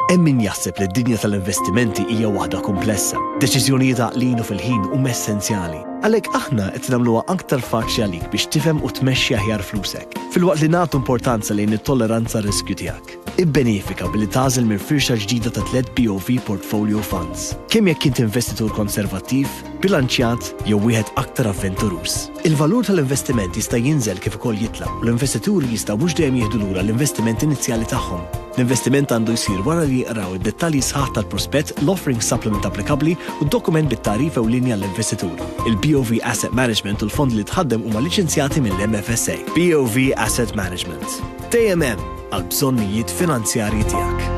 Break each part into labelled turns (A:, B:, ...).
A: Hemm min jaħseb li d-dinja tal-investimenti hija waħda kumplessa. Deċiżjonijiet għaqlin u fil-ħin huma essenzjali. Għalhekk aħna qed nagħmluha aktar faċli għalik biex tifhem u tmexxi aħjar flusek, filwaqt li nagħtu importanza lejn it-tolleranza riskju tiegħek. Ibbenefika billi tagħżel minn firxa ġdida ta' tliet BOV Portfolio Funds. Kemm jekk int investitur konservattiv, bilanċjat jew wieħed aktar avventuruż. Il-valur tal-investiment jista' jinżel kif ukoll jitla' u l-investituri jistgħu mhux dejjem jieħdu lura l-investiment inizjali tagħhom. L-investiment għandu jsir wara li jqraw id-dettalji sħaħ tal-prospett, l-offering supplement applikabbli u d-dokument bit-tagħrif ewlieni għall-investitur. Il-BOV Asset Management u l-fondi li tħaddem huma liċenzjati mill-MFSA. BOV Asset Management. Dejjem hemm għall-bżonnijiet finanzjarji tiegħek.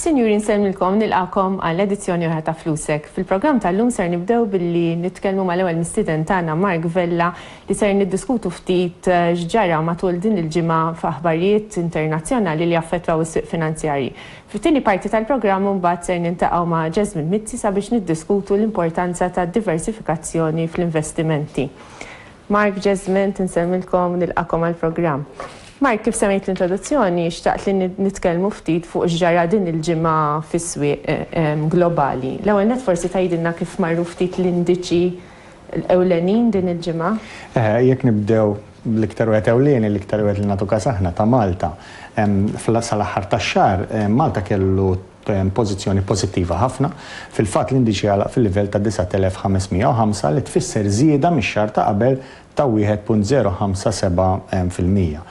A: Sinjuri nsellmilkom u nilqagħkom għal edizzjoni oħra ta' Flusek. Fil-programm tal-lum ser nibdew billi nitkellmu mal-ewwel mistieden tagħna Mark Vella li ser niddiskutu ftit x'ġara matul din il-ġimgħa f'aħbarijiet internazzjonali li affettwaw is-swieq finanzjarji. Fit-tieni parti tal-programm imbagħad ser niltaqgħu ma' Jasmine Mizzi sabiex niddiskutu l-importanza tad-diversifikazzjoni fl-investimenti. Mark Jesmond, Insellmilkom u nilqagħkom għall-programm. Mark, kif semmejt fl-introduzzjoni, xtaqt li nitkellmu ftit fuq x'ġara din il-ġimgħa fis-swieq globali. L-ewwel nett forsi tgħidilna kif marru ftit l-indiċi ewlenin din il-ġimgħa? Jekk nibdew bl-iktar wieħed ewlieni, l-iktar wieħed li nagħtu kas aħna, ta' Malta. Sal-aħħar tax-xahar, Malta kellu pożizzjoni pożittiva ħafna. Fil-fatt, l-indiċi għalaq fil-livell ta' 9,505, li tfisser żieda mix-xahar ta' qabel ta' 1.057 fil-mija.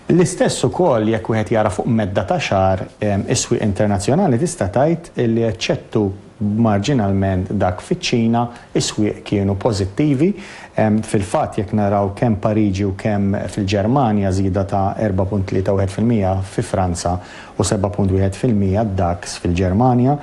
A: L-istess ukoll jekk wieħed jara fuq medda ta' xahar, is-swieq internazzjonali tista' tgħid li eċċettu marġinalment dak fiċ-Ċina, is-swieq kienu pożittivi. Fil-fatt, jekk naraw kemm Pariġi u kemm fil-Ġermanja żieda ta' 4.31 fil-mija, fi Franza u 7.1 fil-mija d-daks fil-Ġermanja.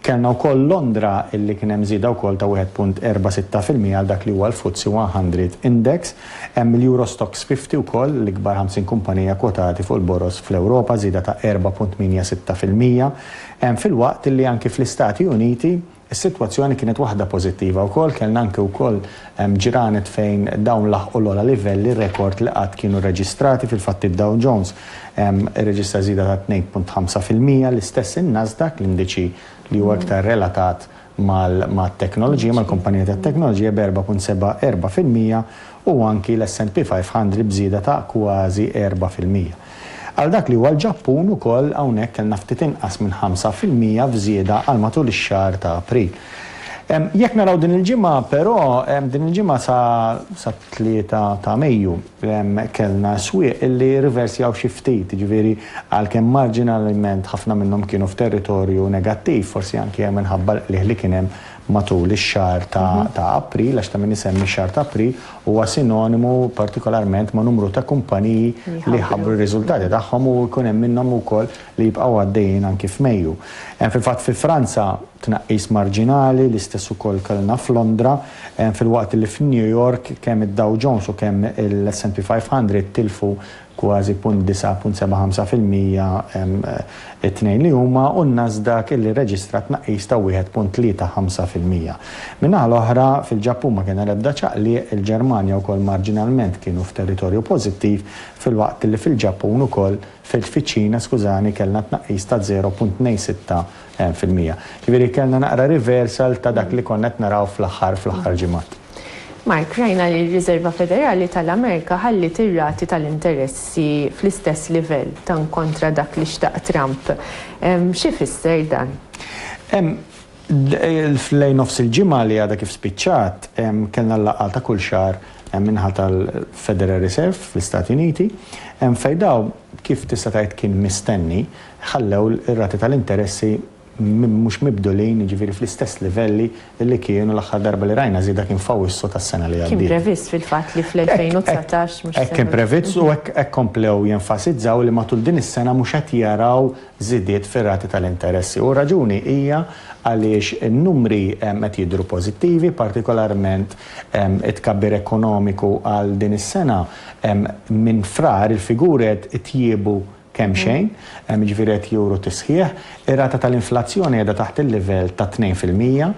A: Kellna wkoll Londra illi kien hemm żieda wkoll ta' 1.46 fil-mija għal dak li huwa l-FTSE 100 Index. Hemm il-Euro Stoxx 50 wkoll, l-ikbar 50 kumpanija kwotati fuq il-boroż fl-Ewropa, żieda ta' 4.86 fil-mija. Filwaqt illi anki fl-Istati Uniti Is-sitwazzjoni kienet waħda pożittiva wkoll, kellna anke wkoll ġranet fejn dawn laħqu l-ogħla livelli rekord li qatt kienu rreġistrati, fil-fatt id-Dow Jones irreġistra żieda ta' tnejn punt ħamsa fil-mija, l-istess in-Nasdaq, l-indiċi li huwa iktar relatat mat-teknoloġija, mal-kumpaniji tat-teknoloġija b'erbgħa punt seba' erba' fil-mija u anki l-S&P 500 b'żieda ta' kważi erbgħa fil-mija. Għal dak li huwa l-Ġappun ukoll hawnhekk kellna ftit inqas minn ħamsa fil-mija f'żieda għal matul ix-xahar ta' April. Jekk naraw din il-ġimgħa però, din il-ġimgħa sa sat-tlieta ta' Mejju, kellna swieq li rriversjaw xi ftit, jiġifieri għalkemm marġinalment ħafna minnhom kienu f'territorju negattiv, forsi anke minħabba l-qligħ li kien hemm matul ix-xahar ta' ta' April, għax ta' min isemmi x-xahar ta' April, huwa sinonimu partikolarment ma' numru ta' kumpaniji li jħabbru r-riżultati tagħhom u jkun hemm minnhom ukoll li jibqgħu għaddejjin anki f'Mejju. Hemm fil-fatt fi Franza tnaqqis marġinali, l-istess ukoll kellna f'Londra, filwaqt li f'New York kemm id-Dow Jones u kemm il-S&P 500 tilfu kważi 0.975 fil-mija t-tnejn li huma, u n-Nasdaq illi rreġistra tnaqqis ta' 1.35 fil-mija. Min-naħa l-oħra, fil-Ġappun ma kien hemm l-ebda ċaqliq, il-Ġermanja wkoll marġinalment kienu f'territorju pożittiv, filwaqt li fil-Ġappun ukoll, fiċ-Ċina, skużani, kellna tnaqqis ta' 0.26 fil-mija. Ġifieri kellna naqra reversal ta' dak li konna qed naraw fl-aħħar fl-aħħar ġimgħat. Mark, rajna li r-Riżerva Federali tal-Amerika ħalliet ir-rati tal-interessi fl-istess livell, tant kontra dak li xtaq Trump. Xi jfisser dan? Lejn nofs il-ġimgħa li għadha kif spiċċat, kellna l-laqgħa ta' kull xahar min-naħa tal-Federal Reserve fl-Istati Uniti, fejn dawn, kif tista' tgħid kien mistenni, ħallew ir-rati tal-interessi mhux mibdulin, jiġifieri fl-istess livelli li kienu l-aħħar darba li rajna żieda kien f'Awwissu tas-sena li għaddiet. Kien previst fil-fatt li fl-2019 mhux se. Hekk kien previst u hekk komplew jenfasizzaw li matul din is-sena mhux qed jaraw żidiet fir-rati tal-interessi u r-raġuni hija għaliex in-numri qed jidhru pożittivi, partikolarment it-tkabbir ekonomiku għal din is-sena minn Frar il-figuri qed itjiebu kemxejn, jiġifieri qed juru tisħiħ, ir-rata tal-inflazzjoni qiegħda taħt il-livell ta' tnejn fil-mija,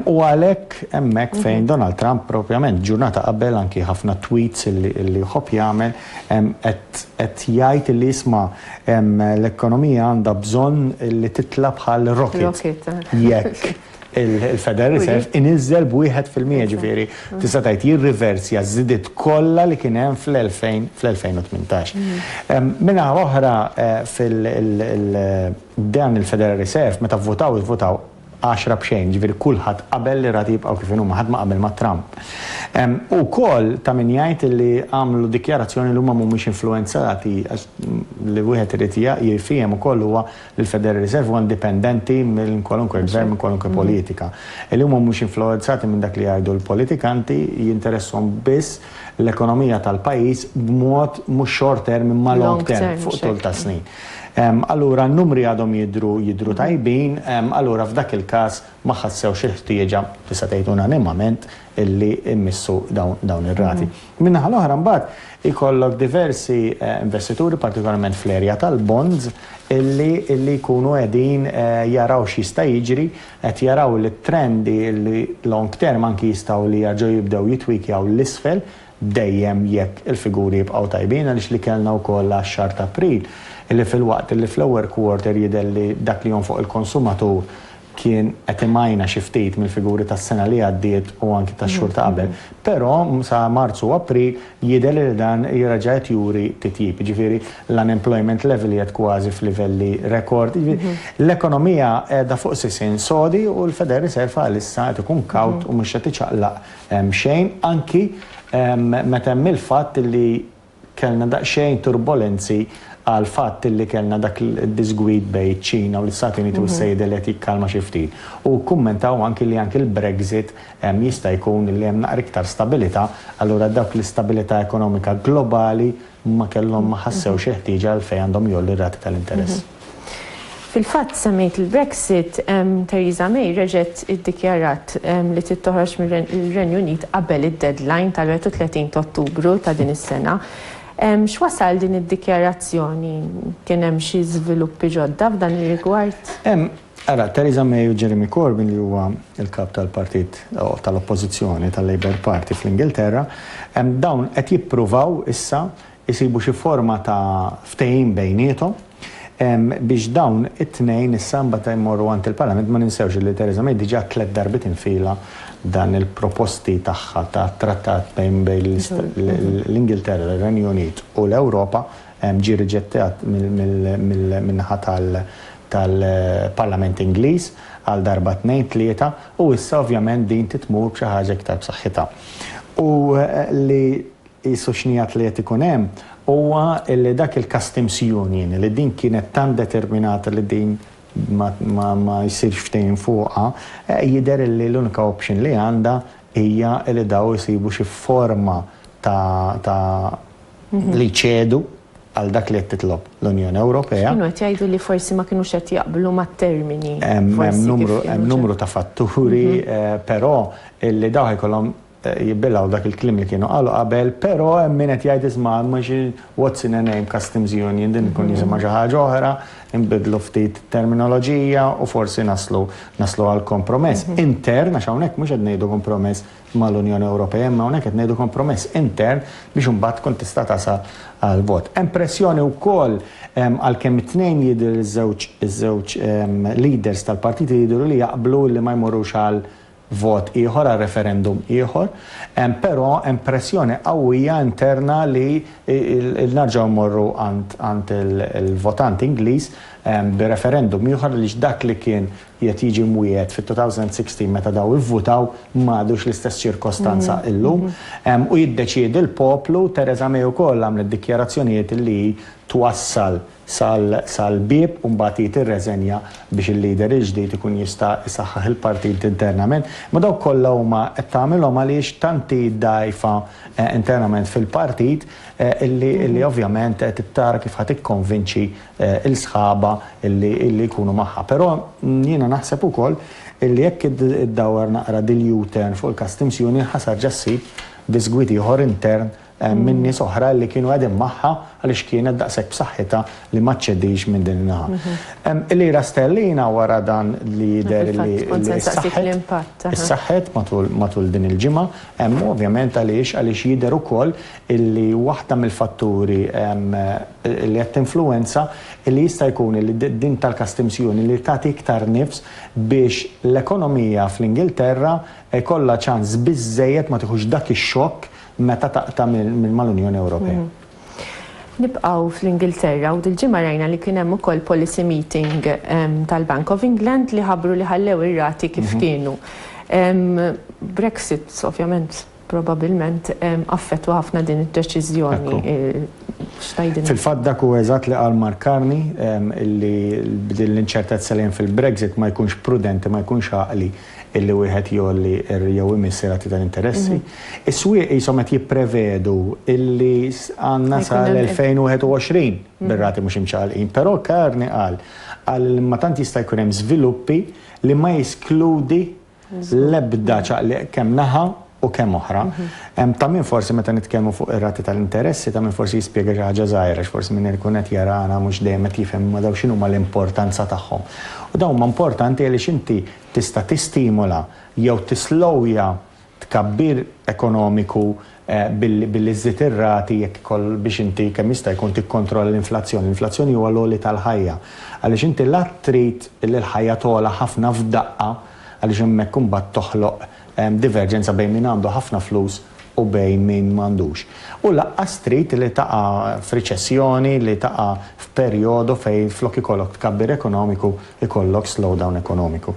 A: u għalhekk hemmhekk fejn Donald Trump propjament ġurnata qabel anki ħafna tweets li jħobb jagħmel qed jgħid li isma' l-ekonomija għandha bżonn li titla' bħal rocket jekk il-Federal Reserve iniżżel b'wieħed fil-mija, ġifieri tista' tgħid jirriversja ż-żidiet kollha li kien hemm fl-2018. Min-naħa l-oħra dan il-Federal Reserve meta vvutaw ivvutaw għaxra b'xejn, ġifieri kulħadd qabel li r-rati jibqgħu kif inhuma, ħadd ma qabel ma' Trump. Hu wkoll ta' min jgħid li għamlu dikjarazzjoni li huma mhumiex influwenzati għax li wieħed irid jifhiem ukoll huwa Il-Federal Reserve huwa indipendenti minn kwalunkwe gvern, minn kwalunkwe politika. Li huma mhux influwenzati minn dak li jgħidu l-politikanti, jinteresshom biss l-ekonomija tal-pajjiż b'mod mhux short term imma long term, fuq tul ta' snin. Allura n-numri għadhom jidhru jidhru tajbin, allura f'dak il-każ ma ħassewx il-ħtieġa, tista' tgħid unanimament, li jmissu dawn ir-rati. Min-naħa l-oħra mbagħad ikollok diversi investituri, partikolarment fl-erja tal-bonds, li jkunu qegħdin jaraw x'jista' jiġri, qed jaraw li t-trendi long term anki jistgħu li jerġgħu jibdew jitwikjaw 'l isfel, dejjem jekk il-figuri jibqgħu tajbin, għaliex li kellna wkoll għax-xahar t'April, li filwaqt li fl-ewwel quarter jidher li dak li jonfoq il-konsumatur kien qed imajna xi ftit mill-figuri tas-sena li għaddiet u anki tax-xhur ta' qabel, però sa Marzu u April jidher li dan reġa' qed juri titjib. Jiġifieri l-unemployment level qiegħed kważi f'livelli rekord. L-ekonomija qiegħda fuq sisien sodi u l-Federal Reserve għalissa qed ikun kawt u mhux qed iċaqlaq xejn anki meta hemm il-fatt li Kellna daqsxejn turbolenzi għall-fatt li kellna dak id-diżgwid bejn iċ-Ċina u l-Istati Uniti u s-Sejd li qed jikkalma xi ftit. U kkummentaw anki li anki l-Brexit jista' jkun li hemm naqra iktar stabilità, allura dawk l-istabilità ekonomika globali ma kellhom ma ħassewx il-ħtieġa għalfejn għandhom jgħollu r-rati tal-interess. Fil-fatt, semmejt il-Brexit, Theresa May reġgħet iddikjarat li trid toħroġ mir-Renju Unit qabel id-deadline tal-31 ta' Ottubru ta' din is-sena. X'wasal din id-dikjarazzjoni? Kien hemm xi żviluppi ġodda f'dan ir-rigward? Ara, Theresa May u Jeremy Corbyn li huwa l-Kap tal-Partit tal-Oppożizzjoni tal-Labour Party fl-Ingilterra, dawn qed jippruvaw issa isibu xi forma ta' ftehim bejniethom biex dawn it-tnejn issa mbagħad imorru għand il-Parlament. Ma ninsewx li Theresa May diġà tliet darbiet infila dan il-proposti tagħha ta' trattat bejn l-Ingilterra, ir-Renju Unit u l-Ewropa ġie riġettat min-naħa tal-Parlament Ingliż għal darba tnejn tlieta u issa ovvjament din trid tmur b'xi ħaġa iktar b'saħħitha. U li Qisu x'nigħat li qed ikun hemm huwa li dak il-Customs Union li din kienet tant determinata li din ma jsirx ftehim fuqha, jidher li l-unika option li għandha hija li dawn isibu xi forma ta' li jċedu għal dak li qed titlob l-Unjoni Ewropea. Kienu qed jgħidu li forsi ma kinux qed jaqblu mat-termini forsi kif kienu. Hemm numru ta' fatturi, però li dawn ħajkollhom jibbilgħu dak il-kliem li kienu qalu qabel, però hemm min qed jgħid isma' mhux what's in a name customs union din tkun jisimha xi ħaġa oħra, inbiddlu ftit terminoloġija u forsi naslu naslu għal kompromess intern, għax hawnhekk mhux qed ngħidu kompromess mal-Unjoni Ewropea imma hawnhekk qed ngħidu kompromess intern biex imbagħad tkun tista' tasal għal vot. Hemm pressjoni wkoll għalkemm it-tnejn jidher iż-żewġ iż-żewġ leaders tal-partiti jidhru li jaqblu li ma jmorrux għal vot ieħor għal referendum ieħor, hemm però hemm pressjoni qawwija interna li nerġgħu mmorru għand il-votant Ingliż bi referendum ieħor għaliex dak li kien qiegħed jiġi mwiegħed fit-2016 meta daw ivvutaw m'għadux l-istess ċirkostanza illum. U jiddeċiedi l-poplu, Theresa May ukoll għamlet dikjarazzjonijiet li hi twassal sal-bieb u mbagħad hi tirreżenja biex il-leader il-ġdid ikun jista' isaħħaħ il-partit internament, imma dawk kollha huma qed tagħmilhom għaliex tant hi dgħajfa internament fil-partit illi ovvjament qed tara kif ħa tikkonvinċi l-sħabha illi jkunu magħha. Però jiena naħseb ukoll illi jekk iddawwar naqra dil-U-turn fuq il-Customs Union ħa sarġa ssib bisgwit ieħor intern minn nies oħra li kienu qegħdin magħha għaliex kienet daqshekk b'saħħitha li ma ċċedix minn din in-naħa. Il-lira sterlina wara dan li jidher li ssaħħet matul din il-ġimgħa hemm ovvjament għaliex għaliex jidher ukoll illi waħda mill-fatturi li qed tinfluwenza li jista' jkun illi din tal-customs union li tagħti iktar nifs biex l-ekonomija fl-Ingilterra jkollha ċans biżżejjed ma tieħux dak ix-xokk meta taqta' mal-Unjoni Ewropea. Nibqgħu fl-Ingilterra u dil-ġimgħa rajna li kien hemm ukoll policy meeting tal-Bank of England li ħabbru li ħallew ir-rati kif kienu. Brexit ovvjament probabilment affettwa ħafna din id-deċiżjoni. X'tgħidilna? Fil-fatt dak hu eżatt li qal Mark Carney, li b'din l-inċertezza li hemm fil-Brexit ma jkunx prudenti, ma jkunx għaqli, illi wieħed jgħolli jew imiss ir-rati tal-interessi. Is-swieq qishom qed jipprevedu illi għandna sal-2021 bir-rati mhux imċaqalqin. Però Carney qal, qal li ma tant jista' jkun hemm żviluppi li ma jeskludi l-ebda ċaqliq kemm naħa u kemm oħra. Ta' min forsi meta nitkellmu fuq ir-rati tal-interessi, ta' min forsi jispjega xi ħaġa żgħira għax forsi min qed ikun qed jarana mhux dejjem qed jifhem imma dawn x'inhuma l-importanza tagħhom. U dawn huma importanti għaliex inti tista' tistimola jew tislowja tkabbir ekonomiku billi żżid ir-rati jekk ikoll biex inti kemm jista' jkun tikkontrolla l-inflazzjoni. L-inflazzjoni huwa l-għoli tal-ħajja. Għaliex inti la trid li l-ħajja togħla ħafna f'daqqa għaliex hemmhekk imbagħad toħloq Hemm diverġenza bejn min għandu ħafna flus u bejn min m'għandux. U lanqas trid li taqa' f'riċessjoni, li taqa' f'perjodu fejn flok ikollok tkabbir ekonomiku jkollok slowdown ekonomiku.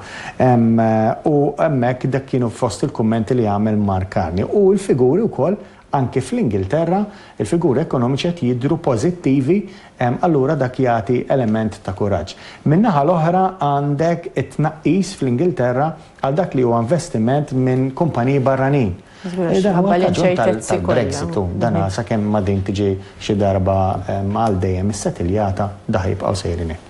A: U hemmhekk dak kienu fost il-kummenti li għamel Mark Carney. U l-figuri wkoll anki fl-Ingilterra, il-figuri ekonomiċi qed jidhru pożittivi, allura dak jagħti element ta' kuraġġ. Min-naħa l-oħra għandek it-tnaqqis fl-Ingilterra għal dak li huwa investiment minn kumpaniji barranin. Dan huwa l-kaġun tal-Brexit u dan sakemm ma din tiġi xi darba għal dejjem issetiljata daħ jibqgħu sejrin hekk.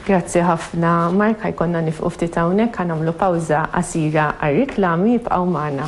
A: Grazzi ħafna Mark, ħa jkollna nifqu ftit hawnhekk, ħa nagħmlu pawża qasira għar-riklami, ibqgħu magħna.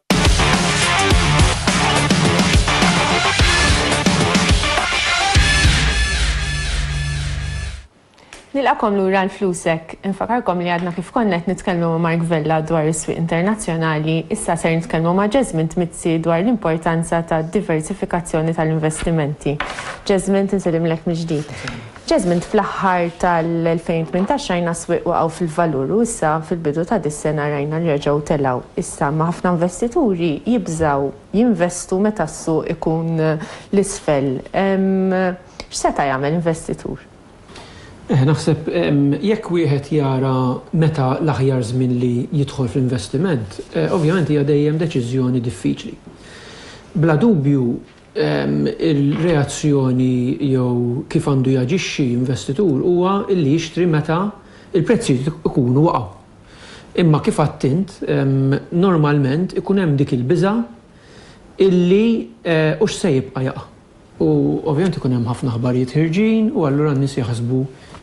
A: Nilqakom lura l-flusek. Infakarkom li għadna kif konna qed nitkellmu ma' Mark Vella dwar is-swieq internazzjonali, issa ser nitkellmu ma' Jasmine Tmizzi dwar l-importanza tad-diversifikazzjoni tal-investimenti. Jasmine, tinselimlek mill-ġdid. Jasmine, Fl-aħħar tal-2018 rajna s-swieq waqgħu fil-valur u issa fil-bidu ta' dis-sena rajna li reġgħu telgħu. Issa imma ħafna investituri jibżgħu jinvestu meta s-suq ikun 'l isfel. X'seta' jagħmel investitur? Eh, naħseb jekk wieħed jara meta l-aħjar żmien li jidħol fl-investiment, ovvjament hija dejjem deċiżjoni diffiċli. Bla dubju Il-reazzjoni jew kif għandu jaġixxi investitur huwa li jixtri meta l-prezzijiet ikunu waqgħu. Imma kif għedt int, normalment ikun hemm dik il-biża' illi hux se jibqa' jaqa'. U ovvjament ikun hemm ħafna aħbarijiet ħirġin u allura n-nies jaħsbu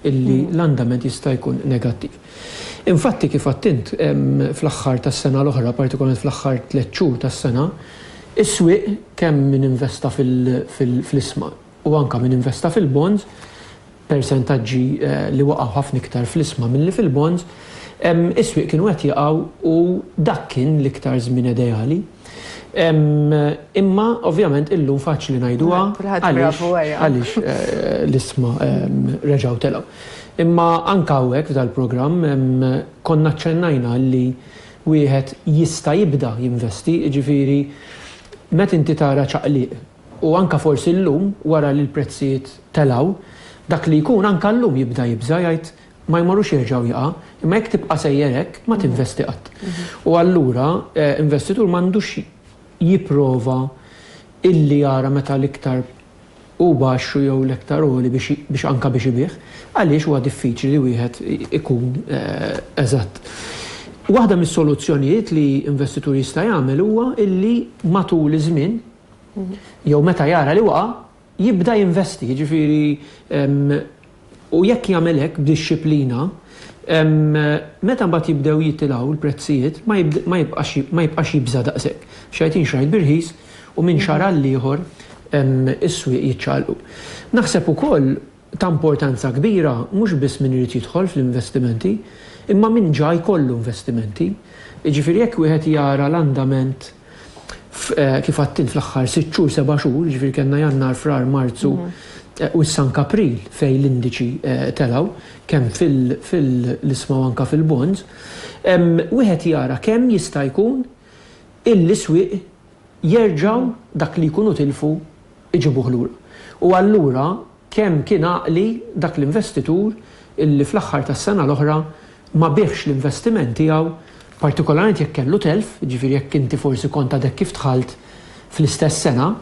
A: illi l-andament jista' jkun negattiv. Infatti, kif għidt int, fl-aħħar tas-sena l-oħra, partikolarment fl-aħħar tliet xhur tas-sena, is-swieq, kemm min investa fl-isma u anke min investa fil-bonds, persentaġġi li waqgħu ħafna iktar fl-isma milli fil-bonds, is-swieq kienu qed jaqgħu u dak kien l-iktar żmien ideali. Imma ovvjament illum faċli ngħiduha għaliex l-isma reġgħu telgħu. Imma anke hawnhekk f'dal-programm konna ċċennajna li wieħed jista' jibda jinvesti, jiġifieri meta inti tara ċaqliq u anke forsi llum wara li l-prezzijiet telgħu, dak li jkun anke llum jibda jibża' jgħid ma jmorrux jerġgħu jaqa', imma jekk tibqa' sejjer hekk ma tinvesti qatt. U allura investitur m'għandux jipprova illi jara meta l-iktar hu baxx u jew l-iktar għoli biex biex anke biex ibigħ, għaliex huwa diffiċli li wieħed ikun eżatt. Waħda mis-soluzzjonijiet li investitur jista' jagħmel huwa illi matul iż-żmien jew meta jara li waqa', jibda jinvesti, jiġifieri, u jekk jagħmel hekk b'dixxiplina, meta mbagħad jibdew jitilgħu l-prezzijiet ma jibqax jibża' daqshekk. Xajtin xrajt bir-rħis u minn xahar għall-ieħor is-swieq jiċċaqlqu. Naħseb ukoll ta' importanza kbira mhux biss min irid jidħol fl-investimenti, imma min ġa jkollu investimenti. Jiġifieri jekk wieħed jara l-andament f', kif għedt int, fl-aħħar sitt xhur, seba' xhur, jiġifieri kellna Jannar, Frar, Marzu u issa anke April fejn l-indiċi telgħu, kemm fil-isma u anke fil-bonds, wieħed jara kemm jista' jkun illi swieq jerġgħu dak li jkunu tilfu jġibuh lura. U allura kemm kien għaqli dak l-investitur illi fl-aħħar tas-sena l-oħra ma biegħx l-investiment tiegħu, partikolarment jekk kellu telf, jiġifieri jekk inti forsi kont għadek kif dħalt fl-istess sena,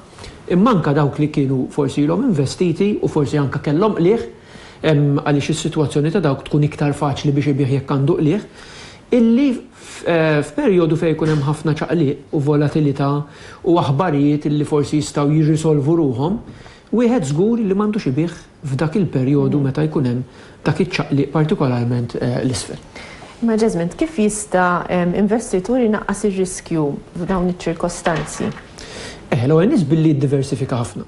A: imma anke dawk li kienu forsi ilhom investiti u forsi anke kellhom qligħ, għaliex is-sitwazzjoni ta' dawk tkun iktar faċli biex ibigħ jekk għandu qligħ. illi f'perjodu fejn ikun hemm ħafna ċaqliq u volatilità u aħbarijiet illi forsi jistgħu jirrisolvu ruħhom, wieħed żgur li m'għandux ibigħ f'dak il-perjodu meta jkun hemm dak iċ-ċaqliq partikolarment 'l isfel. Imma Jesmond, kif jista' investitur inaqqas ir-riskju f'dawn iċ-ċirkostanzi? Eħe, l-ewwel nett billi jiddiversifika ħafna.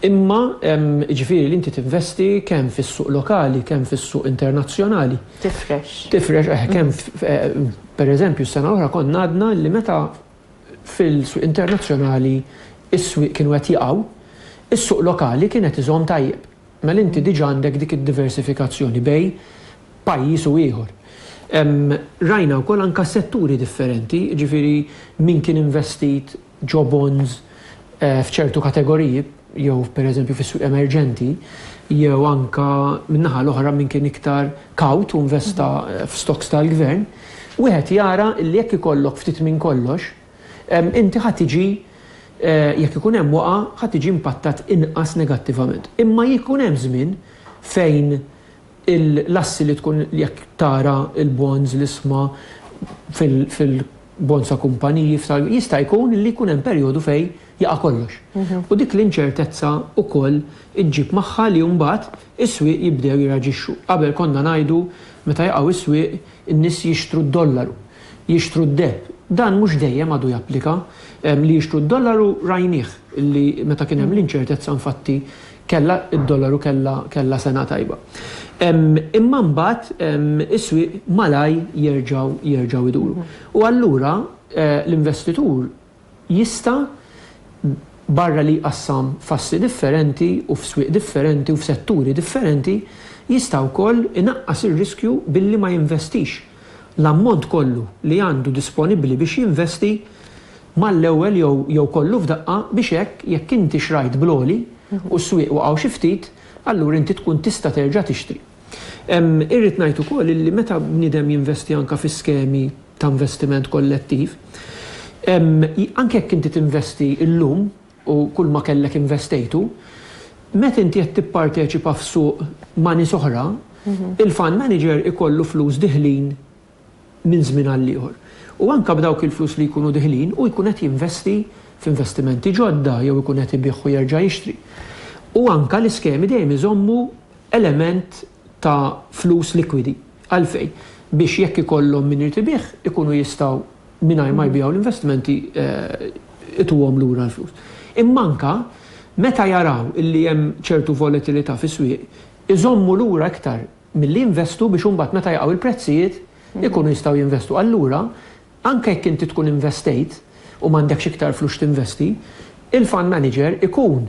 A: Imma, jiġifieri li inti tinvesti kemm fis-suq lokali, kemm fis-suq internazzjonali. Tifrex. Tifrex, eh, kemm f', pereżempju, s-sena l-oħra konna għadna li meta fil-swieq internazzjonali s-swieq kienu qed jaqgħu, is-suq lokali kien qed iżomm tajjeb. Mela inti diġà għandek dik id-diversifikazzjoni bejn pajjiż u ieħor. Rajna wkoll anke setturi differenti, jiġifieri min kien investit ġo bonds f'ċertu kategoriji jew pereżempju fis-swieq emerġenti jew anke min-naħa l-oħra min kien iktar kawt u investa f'stocks tal-gvern, wieħed jara li jekk ikollok ftit minn kollox, inti ħa tiġi, jekk ikun hemm waqgħa, ħa tiġi impattat inqas negattivament. Imma jkun hemm żmien fejn l-assi li tkun jekk tara l-bonds, l-isma fil, bonds ta' kumpaniji f'sal, jista' jkun li jkun hemm perjodu fejn jaqa' kollox. U dik l-inċertezza wkoll iġġib magħha li mbagħad is-swieq jibdew jirreaġixxu. Qabel konna ngħidu meta jaqgħu s-swieq in-nies jixtru d-dollaru, jixtru d-deheb. Dan mhux dejjem għadu japplika. Li jixtru d-dollaru rajnieh li meta kien hemm l-inċertezza infatti Kellha d-dollar u kellha sena tajba. Imma mbagħad is-swieq malajr jerġgħu jerġgħu jduru. U allura l-investitur jista' barra li jqassam f'assi differenti u f'swieq differenti u f'setturi differenti, jista' wkoll inaqqas ir-riskju billi ma jinvestix l-ammont kollu li għandu disponibbli biex jinvesti mal-ewwel jew jew kollu f'daqqa biex hekk jekk inti xrajt bl-għoli u s-swieq waqgħu xi ftit, allura inti tkun tista' terġa' tixtri. Irrid ngħid ukoll illi meta bniedem jinvesti anke fi skemi ta' investiment kollettiv, anke jekk inti tinvesti llum u kulma kellek investejtu, meta inti qed tipparteċipa f'suq ma' nies oħra, il-fund manager ikollu flus diħlin, minn żmien għall-ieħor. U anke b'dawk il-flus li jkunu diħlin, hu jkun qed jinvesti f'investimenti ġodda jew ikun qed ibigħ u jerġa' jixtri. U anke l-iskemi dejjem iżommu element ta' flus likwidi. Għalfejn? Biex jekk ikollhom min irid ibigħ, ikunu jistgħu mingħajr ma jbiegħu l-investimenti ituhom lura l-flus. Imma anke meta jaraw illi hemm ċertu volatilità fis-swieq, iżommu lura iktar milli jinvestu biex imbagħad meta jaqgħu il-prezzijiet ikunu jistgħu jinvestu. Allura, anke jekk inti tkun investejt u m'għandekx iktar flus x'tinvesti, il-fund manager ikun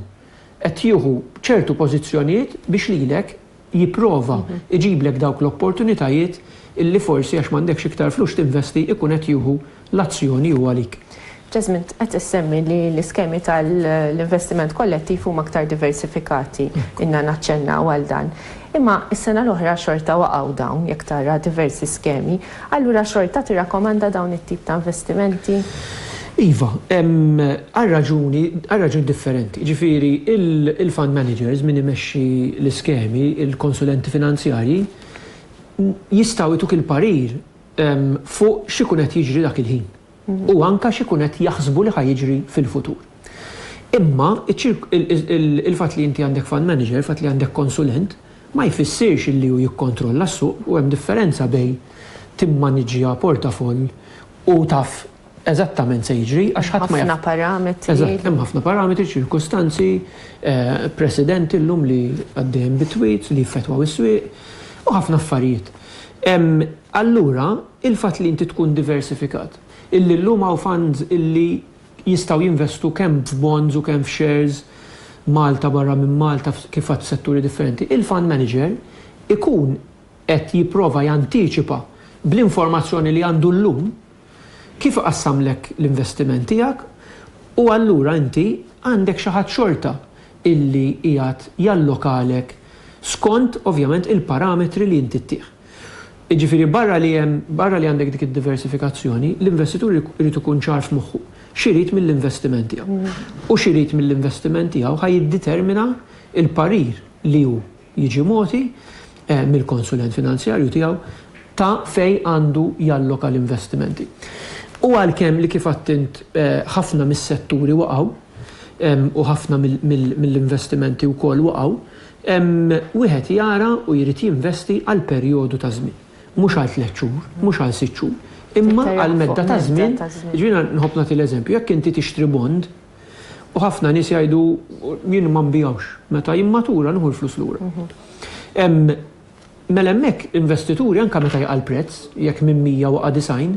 A: qed jieħu ċertu pożizzjonijiet biex lilek jipprova jġiblek dawk l-opportunitajiet illi forsi għax m'għandekx iktar flus x'tinvesti ikun qed jieħu L-azzjoni hu għalik. Jasmine, qed issemmi li l-iskemi tal-investiment kollettiv huma aktar diversifikati. Ilna naċċennaw għal dan. Imma s-sena l-oħra xorta waqgħu dawn, jekk tara diversi skemi. Allura xorta tirrakkomanda dawn it-tip ta' investimenti? Iva, għal raġuni, għal raġuni differenti. Jiġifieri l-fund managers, min imexxi l-iskemi, il-konsulenti finanzjarji, jistgħu jtuk il-parir, fuq x'ikun qed jiġri dak il-ħin u anke x'ikun qed jaħsbu li ħa jiġri fil-futur. Imma il-fatt li inti għandek fund manager, il-fatt li għandek konsulent, ma jfissirx li hu jikkontrolla s-suq u hemm differenza bejn timmaniġġja portafoll u taf eżattament se jiġri għax ħadd ma jaf. Ħafna parametri. Eżatt, hemm ħafna parametri, ċirkustanzi, president illum li għaddejjem bi tweets li jiffetwaw is-swieq u ħafna affarijiet. Allura, il-fatt li inti tkun diversifikat, illi llum hawn funds illi jistgħu jinvestu kemm f'bonds u kemm f'shares Malta barra minn Malta kif għedt f'setturi differenti, il-fund manager ikun qed jipprova jantiċipa bl-informazzjoni li għandu llum, Kif iqassamlek l-investiment tiegħek u allura inti għandek xi ħadd xorta illi qiegħed jallokalek skont ovvjament il-parametri li inti ttih. Jiġifieri barra li hemm, barra li għandek dik id-diversifikazzjoni, l-investitur irid ikun ċar f'moħħu x'irid mill-investiment tiegħu. U x'irid mill-investiment tiegħu ħa jiddetermina l-parir li hu jiġi mogħti mill-konsulent finanzjarju tiegħu ta' fejn għandu jalloka l-investimenti. U għalkemm li kif għidt int ħafna mis-setturi waqgħu u ħafna mill-investimenti wkoll waqgħu, wieħed jara u jrid jinvesti għal perjodu ta' żmien. Mhux għal tliet xhur, mhux għal sitt xhur, imma għal medda ta' żmien, jiġifieri nħobb nagħti l-eżempju, jekk inti tixtri bond, U ħafna nies jgħidu jien ma nbigħux, meta jimmatura nieħu l-flus lura. Mela hemmhekk investituri anke meta jaqa' l-prezz, jekk minn 100 waqa' 90,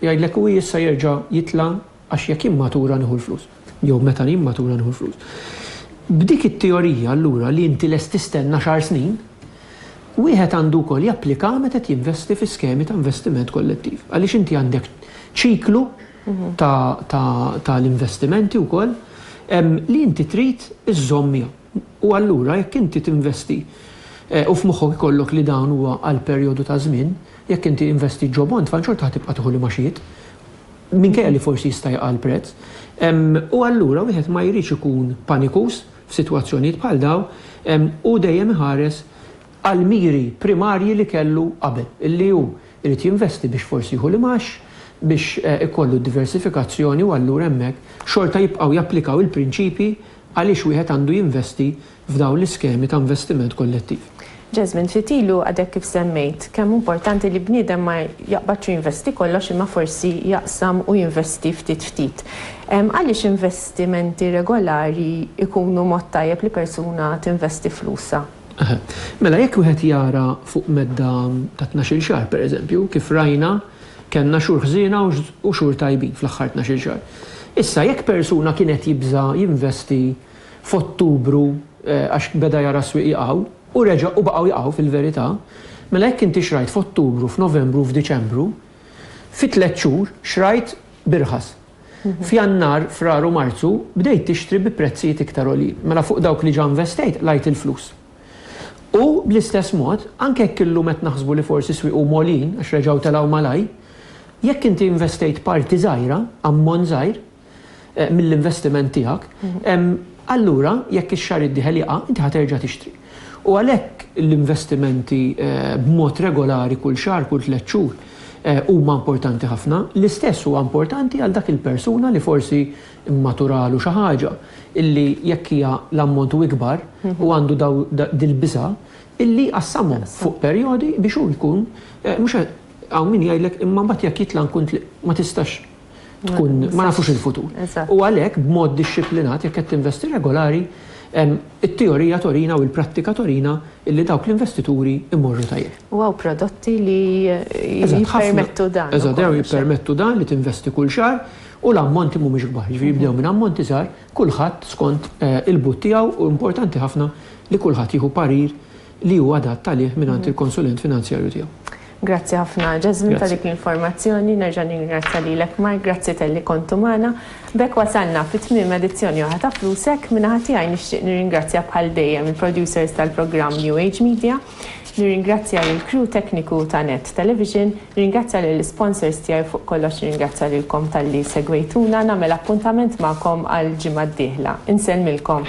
A: jgħidlek u issa jerġa' jitla' għax jekk jimmatura nieħu l-flus. Jew meta jimmatura nieħu l-flus. B'dik it-teorija allura li inti lest tistenna xahar snin, wieħed għandu wkoll japplikaha meta qed jinvesti fi skemi ta' investiment kollettiv. Għaliex inti għandek ċiklu, ta' l-investimenti wkoll li inti trid iżżomm miegħu. U allura jekk inti tinvesti u f'moħħok ikollok li dan huwa għal perjodu ta' żmien, jekk inti investit ġo bond f'għan xorta ħa tibqa' tieħu l-imgħaxijiet minkejja li forsi jista' jaqa' l-prezz. U allura wieħed ma jridx ikun panikuż f'sitwazzjonijiet bħal dawn u dejjem iħares għall-miri primarji li kellu qabel, li hu jrid jinvesti biex forsi jieħu l-imgħax, biex ikollu d-diversifikazzjoni u allura hemmhekk xorta jibqgħu japplikaw il-prinċipji għaliex wieħed għandu jinvesti f'dawn l-iskemi ta' investiment kollettiv. Jasmine, ftit ilu għadek kif semmejt kemm hu importanti li bniedem ma jaqbadx u jinvesti kollox imma forsi jaqsam u jinvesti ftit ftit. Għaliex investimenti regolari jkunu mod tajjeb li persuna tinvesti flusha? Eħe. Mela jekk wieħed jara fuq medda ta' tnax-il xahar, pereżempju, kif rajna kellna xhur ħżiena u xhur tajbin fl-aħħar tnax-il xahar. Issa jekk persuna kien qed jibża' jinvesti f'Ottubru għax beda jara s-swieq jqgħu, u reġa' u baqgħu jqgħu fil-verità, mela jekk inti xrajt f'Ottubru, f'Novembru u f'Diċembru, fi tliet xhur xrajt b'irħas. F'Jannar, Frar u Marzu bdejt tixtri bi prezzijiet iktar għoljin. Mela fuq dawk li ġa investejt qlajt il-flus. U, bl-istess mod, anke jekk illum qed naħsbu li forsi s-swieq huma għoljin għax reġgħu telgħu malajr, jekk inti investejt parti żgħira, ammont żgħir, mill-investiment tiegħek, allura jekk ix-xahar id-dieħel jaqa', inti ħa terġa' tixtri. U għalhekk l-investimenti b'mod regolari kull xahar, kull tliet xhur, huma importanti ħafna. L-istess huwa importanti għal dak il-persuna li forsi mmaturalu xi ħaġa illi jekk hija l-ammont hu ikbar u għandu dil-biża' illi jqassamhom fuq perjodi biex hu jkun mhux qed hawn min jgħidlek imma mbagħad jekk jitla' nkun ma tistax tkun ma nafux il-futur. U għalhekk b'mod dixxiplinat jekk qed tinvesti regolari, it-teorija torina u l-prattika torina illi dawk l-investituri imorru tajjeb. U hawn prodotti li jippermettu dan. Eżatt, dawn jippermettu dan li tinvesti kull xahar u l-ammonti mhumiex kbar. Ġifieri jibdew minn ammonti żgħar, kulħadd skont il-but tiegħu u importanti ħafna li kulħadd jieħu parir li hu adatt għalih mingħand il-konsulent finanzjarju tiegħu. Grazzi ħafna Jasmine ta' dik l-informazzjoni. Nerġa' ningrazzja lilek Mark, grazzi talli kontu magħna. B'hekk wasalna fi tmiem edizzjoni oħra ta' Flusek. Min-naħa tiegħi nixtieq nirringrazzja bħal dejjem il-producers tal-programm New Age Media. Nirringrazzja lill-crew tekniku ta' Net Television. Nirringrazzja lill-isponsors tiegħi u fuq kollox nirringrazzja lilkom talli segwejtuna. Nagħmel appuntament magħkom għall-ġimgħa d-dieħla. Insellmilkom.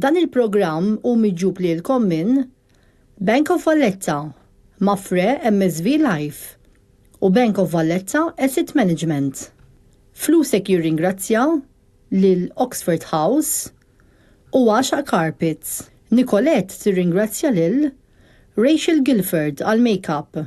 A: Dan il-programm hu miġjub lilkom minn, Bank of Valletta, Mapfre MSV Life u Bank of Valletta Asset Management. Flusek jirringrazzja lil Oxford House u Għaxaq Carpets. Nicolette tirringrazzja lil, Rachel Gilford għall-makeup.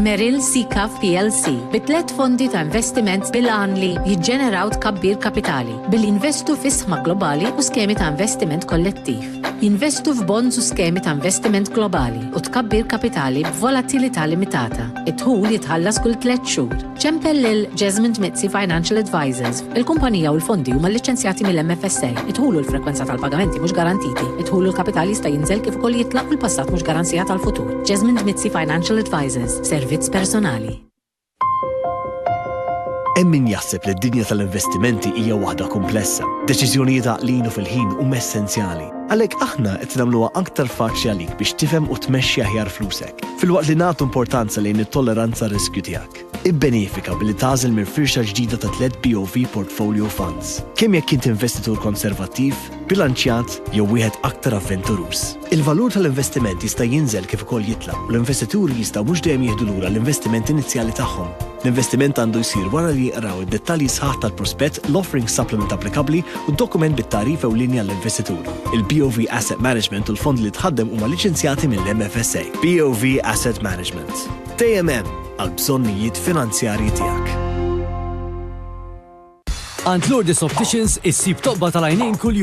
A: Merrill Seacav plc bi tliet fondi ta' investiment bil-għan li jiġġeneraw tkabbir kapitali billi jinvestu fi sħma globali u skemi ta' investiment kollettiv, jinvestu f'bonds u skemi ta' investiment globali u tkabbir kapitali b'volatilità limitata. Id-dħul jitħallas kull tliet xhur. Ċempel lil Jesmond Mizzi Financial Advisors, Il-kumpanija u l-fondi huma lliċċenzjati mill-MFSA, id-dħul u l-frekwenza tal-pagamenti mhux garantiti, id-dħul u l-kapital jista' jinżel kif ukoll jitlaq u l-passat mhux garanzija tal-futur. Jasmine Dmizzi Financial Advisors, servizz personali. Hemm min jaħseb li d-dinja tal-investimenti hija waħda kumplessa. Deċiżjonijiet għaqlin u fil-ħin huma essenzjali. Għalhekk aħna qed nagħmluha aktar faċli għalik biex tifhem u tmexxi aħjar flusek, filwaqt li nagħtu importanza lejn it-tolleranza riskju tiegħek. Ibbenefika billi tagħżel minn firxa ġdida ta' tliet BOV Portfolio Funds, kemm jekk int investitur konservattiv, bilanċjat jew wieħed aktar avventuruż. Il-valur tal-investiment jista' jinżel kif ukoll jitla', u l-investituri jistgħu mhux dejjem jieħdu lura l-investiment inizjali tagħhom. L-investiment għandu jsir wara li jqraw id-dettalji sħaħ tal-prospett, l-offering supplement applikabbli u d-dokument bit-tagħrif ewlieni għall-investitur. Il-BOV Asset Management u l-fondi li tħaddem huma liċenzjati mill-MFSA. BOV Asset Management. Dejjem hemm għall-bżonnijiet finanzjarji tiegħek. Għand Lourdes Opticians issib tobba tal-għajnejn kuljum.